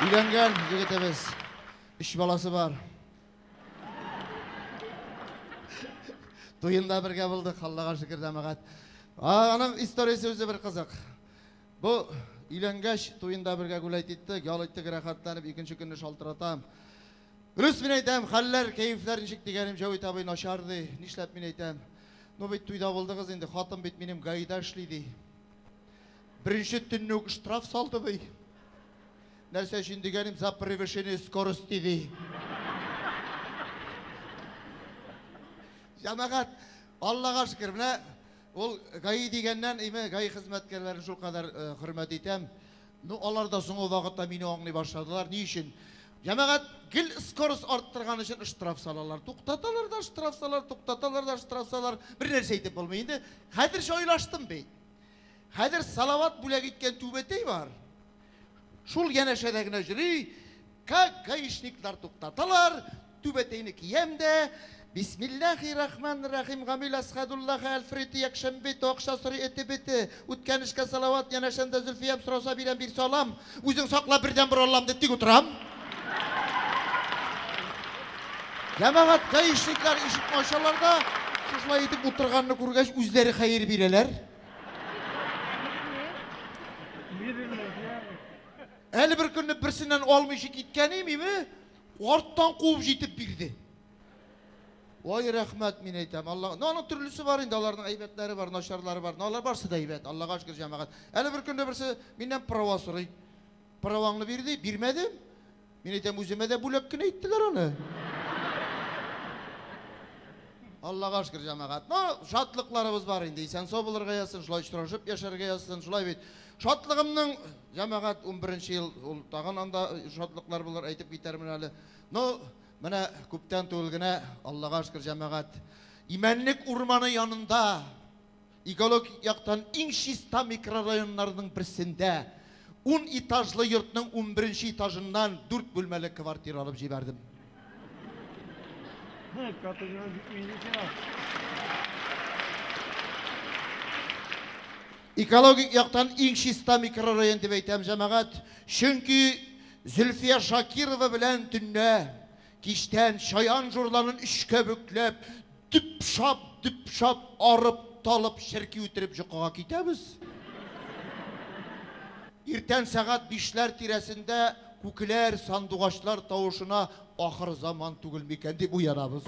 Өйләнгән егетебез. Өч баласы бар. Туенда бергә булдык, Аллага шөкер дәмәгать. Аның историясе үзе бер кызык. Бу өйләнгәч туенда бергә гүләйт иттек, ял иттек, рәхәтләнеп икенче көнне шалтыратам. Дөрес мин әйтәм, хәлләр, кәефләр ничек дигәнем Җәвит абый начар ди. Нишләп мин әйтәм? Ну бит туйда булдыгыз инде, хатын бит минем гаида эшли ди. Беренче төнне үк штраф салды бый. Нәрсә өчен дигәнем за превышение скорости ди. Җәмәгать, Аллага шөкер, менә ул ГАИ дигәннән, име ГАИ хезмәткәрләрен шулкадәр э, хөрмәт итәм. Ну, алар да соңгы вакытта мине аңлый башладылар. Ни өчен? Җәмәгать гел скорость арттырган өчен штраф салалар. Туктаталар да штраф салалар, туктаталар да штраф салалар. Бер нәрсә әйтеп булмый инде. Хәзер җайлаштым бит. Хәзер Салават бүләк иткән түбәтәй бар. Шул янәшәдә генә йөри. Как гаишниклар туктаталар, Түбәтәйне киям дә, Бисмиллахи рахманир рахим, Гамил Әсхәдуллаһы Әлфрити Якшәмбе ите акча сорый эте бете, Үткән эшкә салават, янәшәмдә Зөлфиям сораса бирәм бирсә алам, Үзең сакла бердән бер Аллам дип тик утырам. Җәмәгать гаишниклар ишекне ачалар да, шушылай итеп утырганны күргәч, үзләре хәер бирәләр. Әле беркөнне берсеннән алмыйча киткән имиме, Арттан куып җитеп бирде. Ой, рәхмәт, мин әйтәм, Алла. Ну, аның төрлесе бар инде, аларның әйбәтләре бар, начарлары бар. Ну, алар барсы да әйбәт, Аллага шөкер, җәмәгать. Әле бер көнне берсе миннән права сорый. Праваңны бир ди, бирмәдем. Мин әйтәм, үземә дә бүләк кенә иттеләр аны. Аллага шөкер, җәмәгать. Ну, шатлыкларыбыз бар инде. Исән-сау булырга язсын, шулай очрашып яшәргә язсын, шулай бит. Шатлыгымның, җәмәгать, унберенче ел, ул тагын анда шатлыклар булыр, әйтеп китәрмен әле. Ну, менә күптән түгел генә, Аллага шөкер, җәмәгать, Имәнлек урманы янында, экологик яктан иң чиста микрорайоннарның берсендә ун этажлы йортның унберенче этажыннан дүрт бүлмәле квартира алып җибәрдем. Экологик яктан иң чиста микрорайон дип әйтәм, җәмәгать, чөнки Зөлфия Шакирова белән төнлә, кичтән чаян җурларын өчкә бөкләп, дөп-шап, дөп-шап арып, талып, черки үтереп җокыга китәбез. Иртән сәгать бишләр тирәсендә күкләр сандугачлар тавышына Ахырзаман түгел микән дип уянабыз.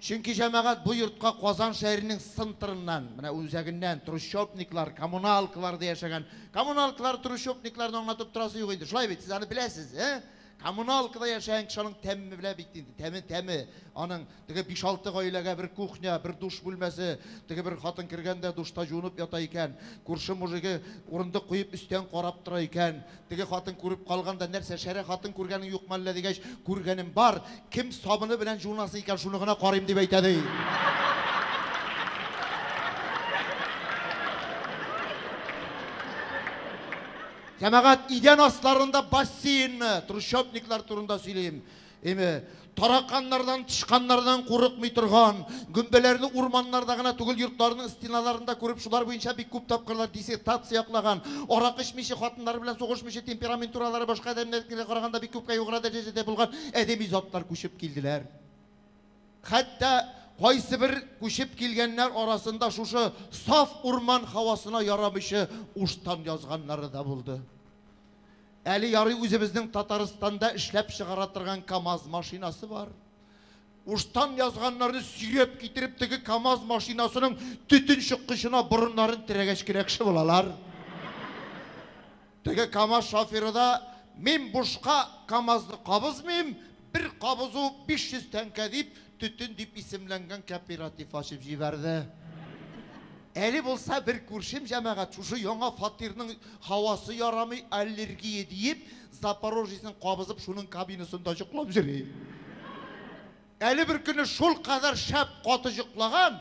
Чөнки җәмәгать бу йортка Казан шәһәренең цнтрыннан, менә үзәгеннән, трущобниклар, коммуналкаларда яшәгән. Коммуналкалар, трущобникларны аңлатып торасы юк инде, шулай бит, сез аны беләсез, ә? Коммуналкада яшәгән кеше аның тәмен белә бит инде, тәме, тәме, аның Теге биш-алты гаиләгә бер кухня, бер душ бүлмәсе. Теге бер хатын кергән дә душта җуынып ята икән. Күрше мужигы урындык куеп өстән карап тора икән. Теге хатын күреп калган да, Нәрсә, шәрә хатын күргәнең юкмы әллә? дигәч, Күргәнем бар. Кем сабыны белән җуынасы икән, шуны гына карыйм, дип әйтә, ди. Җәмәгать, идән асларында бассейнмы? Трущобниклар турында сөйлим. Эме, тараканнардан, тычканнардан курыкмый торган, гөмбәләрне урманнарда гына түгел, йортларның стеналарында күреп, шулар буенча бик күп тапкырлар диссертация яклаган, аракы эчмиче, хатыннары белән сугышмыйча, темпераментуралары башка адәмнәрнекенә караганда бик күпкә югары дәрәҗәдә булган әдәби затлар күчеп килделәр. Хәтта кайсы бер күчеп килгәннәр арасында шушы саф урман һавасына ярамыйчы уштан язганнары да булды. Әле ярый үзебезнең Татарстанда эшләп чыгара торган КАМАЗ машинасы бар. Уштан язганнарны сөйрәп китереп теге КАМАЗ машинасының төтен чыккычына борыннарын терәгәч кенә кеше булалар. Теге КАМАЗ шоферы да мин бушка КАМАЗны кабызмыйм, Бер кабызу 500 тәңкә дип, Төтен дип исемләнгән кооператив ачып җибәрде. Әле булса бер күршем җәмәгать шушы яңа фатирның һавасы ярамый, аллергия диеп, Запорожецын кабызып шуның кабинасында җоклап йөри. Әле беркөнне шулкадәр шәп каты җоклаган,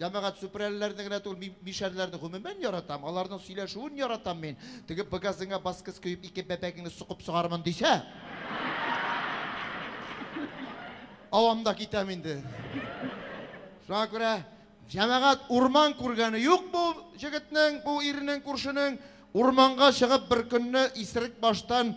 Җәмәгать сүпрәлеләрне генә түгел, мин мишәрләрне гомумән яратам, аларның сөйләшүен яратам мин. Теге бгазыңа баскыц көеп ике бәбәгеңне сукып сугармын дисә, авам да китәм инде. Шуңа күрә җәмәгать урман күргәне юк бу җегетнең, бу ирнең, күршенең. Урманга чыгып бер көнне исерек баштан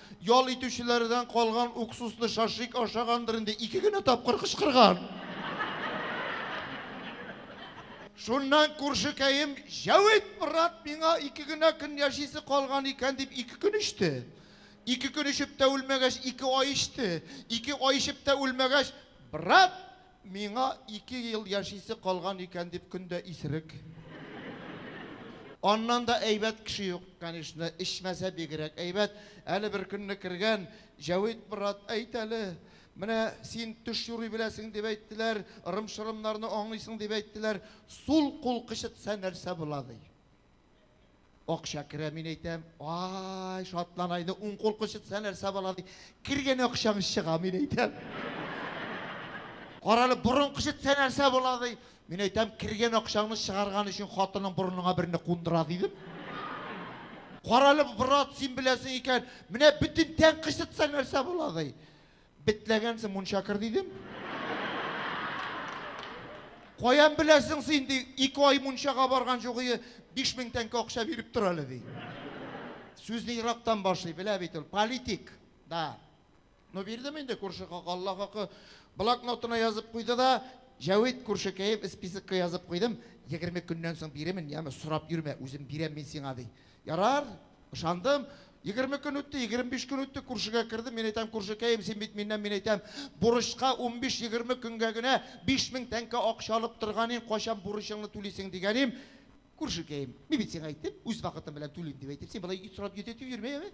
Ял итүчеләрдән калган уксусны шашлик ашагандыр инде, ике генә тапкыр кычкырган. Шуннан күршекәем Җәвит, брат, миңа ике генә көн яшисе калган икән, дип ике көн эчте. Ике көн эчеп тә үлмәгәч, ике ай эчте. Ике ай эчеп тә үлмәгәч, брат, Миңа ике ел яшисе калган икән дип көн дә исерек. Аннан да әйбәт кеше юк, конечно, эчмәсә бигрәк әйбәт. Әле бер көнне кергән, Җәвит брат, әйт әле, менә син төш юрый беләсең дип әйттеләр, ырым-шырымнарны аңлыйсың дип әйттеләр, сул кул кычытса нәрсә була, ди. Акча керә, мин әйтәм, ай, шатлана инде, уң кул кычытса нәрсә була, ди. Кергән акчаң чыга, мин әйтәм. Карале, борын кычытса нәрсә була, ди. Мин әйтәм, кергән акчаңны чыгарган өчен хатының борыныңа берне кундыра, дидем. Карале, брат, син беләсең икән, менә бөтен тән кычытса нәрсә була, ди. Бетләгәнсең, мунча кер, дидем. Каян беләсең син, ди, ике ай мунчага барган җугые биш мең тәңкә акча биреп тор әле, ди. Сүзне ерактан башлый, белә бит ул, политик, да. Ну, бирдем инде, күрше хакы, Алла хакы. Блокнотына язып куйды да, Җәвит, күршекәем, списокка язып куйдым, егерме көннән соң бирермен, яме, сорап йөрмә, үзем бирәм мин сиңа, ди. Ярар, ышандым. Егерме көн үтте, егерме биш көн үтте, күршегә кердем, мин әйтәм, күршекәем, син бит миннән, мин әйтәм, бурычка унбиш-егерме көнгә генә биш мең тәңкә акча алып торган идең, кайчан бурычыңны түлисең, дигәнем, күршекәем, мин бит сиңа әйттем, үз вакытым белән түлим, дип әйтеп, син болай сорап йөдәтеп йөрмә, әйе?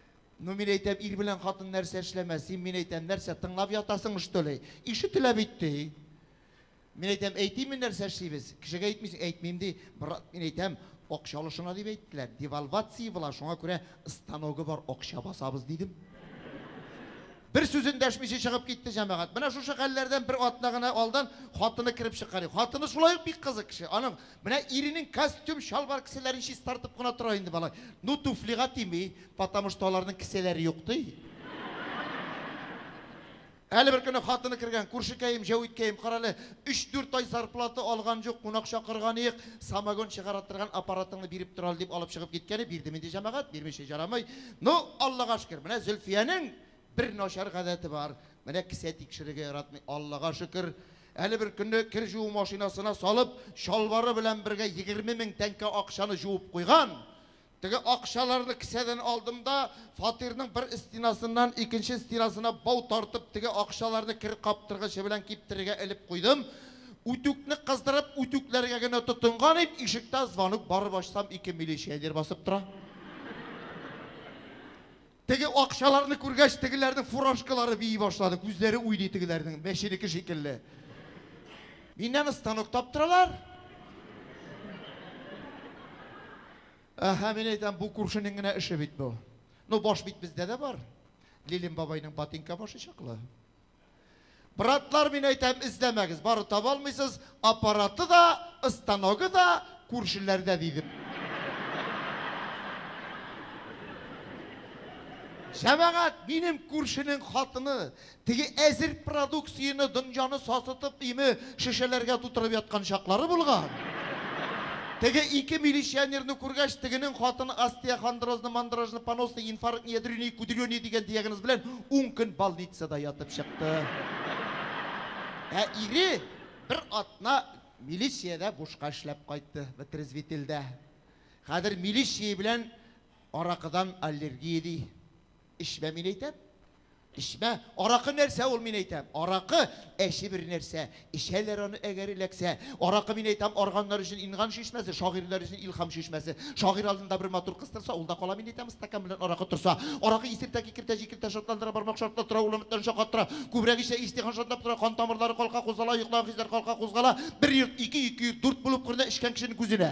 Ну, мин әйтәм, ир белән хатын нәрсә эшләмәс? Син, мин әйтәм, нәрсә, тыңлап ятасың, что ли? Ишетелә бит, ди. Мин әйтәм, әйтимме нәрсә эшлибез? Кешегә әйтмисең, әйтмим, ди. Брат, мин әйтәм, акча алышына дип әйттеләр. Девальвация була, шуңа күрә станогы бар акча басабыз, дидем. Бер сүзен дәшмичә чыгып китте җәмәгать. Менә шушы хәлләрдән бер атна гына алдан хатыны кереп чыккан. Хатыны шулай ук бик кызык кеше. Аның Менә иренең костюм, чалбар кесәләрен чистартып кына тора инде малай. Ну, туфлига тими, потому что аларның кесәләре юк, ди. Әле бер көнне хатыны кергән, күршекәем, җәвиткәем, карале, өч-дүрт ай зарплата алган юк, кунак чакырганыек, самогон чыгара торган аппаратыңны биреп тора әле, дип алып чыгып киткәне, бирдем инде, җәмәгать, бирмичә ярамый. Ну, Аллага шөкер, менә Зөлфиянең бер начар гадәте бар, менә кесә тикшерергә яратмый, Аллага шөкер, Әле бер көнне кер җуу машинасына салып, чалбары белән бергә егерме мең тәңкә акчаны җуып куйган. Теге акчаларны кесәдән алдым да, фатирның бер стенасыннан икенче стенасына бау тартып, теге акчаларны кер каптыргычы белән киптерергә элеп куйдым. Үтүкне кыздырып, үтүкләргә генә тотынган идем, ишектә звонок, барып ачсам, ике милиционер басып тора. Теге акчаларны күргәч, тегеләрнең фуражкалары бии башлады, күзләре уйный тегеләрнең, мәченеке шикелле. Миннән станок таптыралар. Әһә, мин әйтәм, бу күршенең генә эше бит бу. Ну, баш бит бездә дә бар. Лилин бабайның ботинка башы чаклы. Братлар, мин әйтәм, эзләмәгез, бары таба алмыйсыз, аппараты да, ыстаногы да күршеләрдә, дидем. Җәмәгать, минем күршенең хатыны, теге әзер продукцияне, дөньяны сасытып, име, шешәләргә тутырып яткан чаклары булган. Теге ике милиционерны күргәч, тегенең хатыны остеохондрозны, мандрожны, поносны, инфарктны, ядрёние, кудрёние дигән диагноз белән ун көн балницада ятып чыкты. Ә ире бер атна милициядә бушка эшләп кайтты, вытрезвителдә. Хәзер милиция белән аракыдан аллергия ди. Эчмә, мин әйтәм. Эчмә. Аракы нәрсә ул, мин әйтәм. Аракы, әче бер нәрсә. Эчәләр аны, әгәр эләксә. Аракы, мин әйтәм, арганнар өчен инган чишмәсе, шагыйрьләр өчен илһам чишмәсе. Шагыйрь алдында бер матур кыз торса, ул да кала, мин әйтәм, стакан белән аракы торса. Аракы исертә, кикертә, җикертә, шатландыра, бармак шартлаттыра, улы өметтән шаккаттыра. Күбрәк эчсә, иҗтихан шартлап тора, кан тамырлары калка, кузгала, йоклаган хисләр калка, кузгала. Бер йорт, ике йорт, ике йорт, дүрт булып күренә эчкән кешенең күзенә.